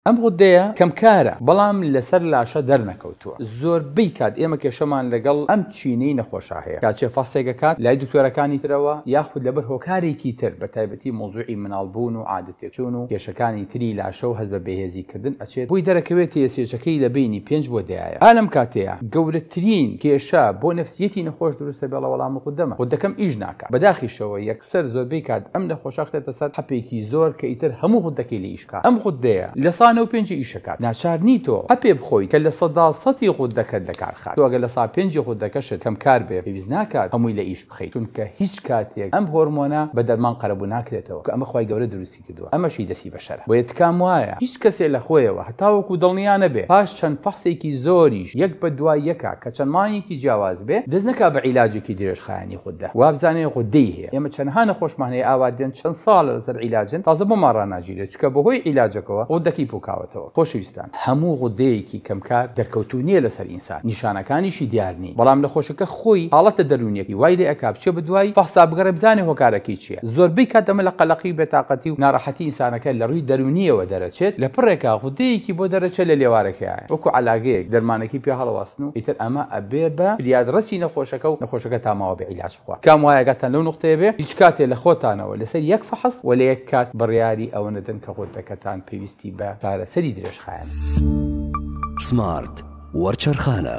ئەم غودەیە کەمکارە بەڵام لەسەر لاشە دەرنەکەوتووە زۆربەی کات ئێمە کێشەمان لەگەڵ ئەم چینی نەخۆشە هەیە کاتێ فەسێک ئەکات لای دکتۆرەکانی ترەوە یاخود لەبەر هۆکارێکی تر بەتایبەتی مەوزوعی مناڵ بوون و عادە تێکچوون و کێشەکانی تری لاشەو هەست بە بێهێزی کردن ئەچێت بۆی دەرەکەوێت تێسێچەکەی لە بەینی پێنج بۆ دەیایە ئا لەم کاتەیە گەورەترین کێشە بۆ نەفسیەتی نەخۆش دروستە بێڵە وەڵام غودەمە غودەکەم ئیش ناکات بەداخیشەوە سەر زۆربەی کات ئەم نەخۆشە خرێتە سەر حەپێکی زۆر کە ئیتر هەموو غوددەکەی لێ ئیشکا ئەم غوددەیە لە سا نۆ پێنجی ئیشەکات ناچار نی تۆ حەپێ بخۆیت کە لە سەدا سەتی غوددەکەت لە کار خات تۆ ئەگەر لە سا پێنجی غوددەکەشت کەم کار بێ پێویست ناکات هەمووی لە ئیش بخەیت چونکە هیچ کاتێک ئەم هۆرمۆنە بە دەرمان قەرەبوو ناکرێتەوە کە ئەمە خوای گەورە دروستی کردووە ئەمەشی دەستی بەشەرە بۆیە تکام وایە هیچ کەسێ لەخۆیەوە هەتاوەکو دڵنیا نەبێ پاش چەند فەحسێکی زۆریش یەک بەدوای یەکا کە چەند مانگێکی جیاواز بێ دەست نەکا بە عیلاجێکی درێژخایەنی غوددە وابزانێ غوددەی هەیە ئێمە چەنها نەخۆشمان هەیە ئاوا دێن چەند ساڵە لەسەر عیلاجن تازە بۆمان ڕاناگیرێ چونکە بەهۆی عیلاجەکەوە غوددەکەی پوکاوەتەوە خۆشەویستان هەموو غوددەیەکی کەمکار دەرکەوتوو نیە لەسەر سات نیشانەکانیشی دیار نین بەڵام نەخۆشەکە خۆی حاڵەتە دەروونیەکەی وای لێ ئەکا بچێ بە دوای فەحسا بگەڕێ بزانێ هۆکارەکەی چیە زۆربەی کات ئەمە لە قەلەقی و بێتاقەتی و ناڕەحەتی ئینسانەکە لە ڕووی دەروونیەوە دەرەچێت لە پڕێکا غودەیەکی بۆ دەرەچێت لە لێوارەکەیایە وەکو عەلاگەیەک دەرمانەکەی پێ هەڵەواسن و ئیتر ئەمە ئەبێ بە فریادڕەسی نەخۆشەکە و نەخۆشەکە تا ماوە بێ عیلاج کام وایە ئاگاتان لەو نوقتەیە بێ هیچ کاتێ لە خۆتانەوە لەسەر یەک فەحس و لە یەک کات بڕیاری ئەوە نەدەن کە غدەکەتان پێویستی بە چارەسەری درێژخایەنە. سمارت وەرچەرخانە.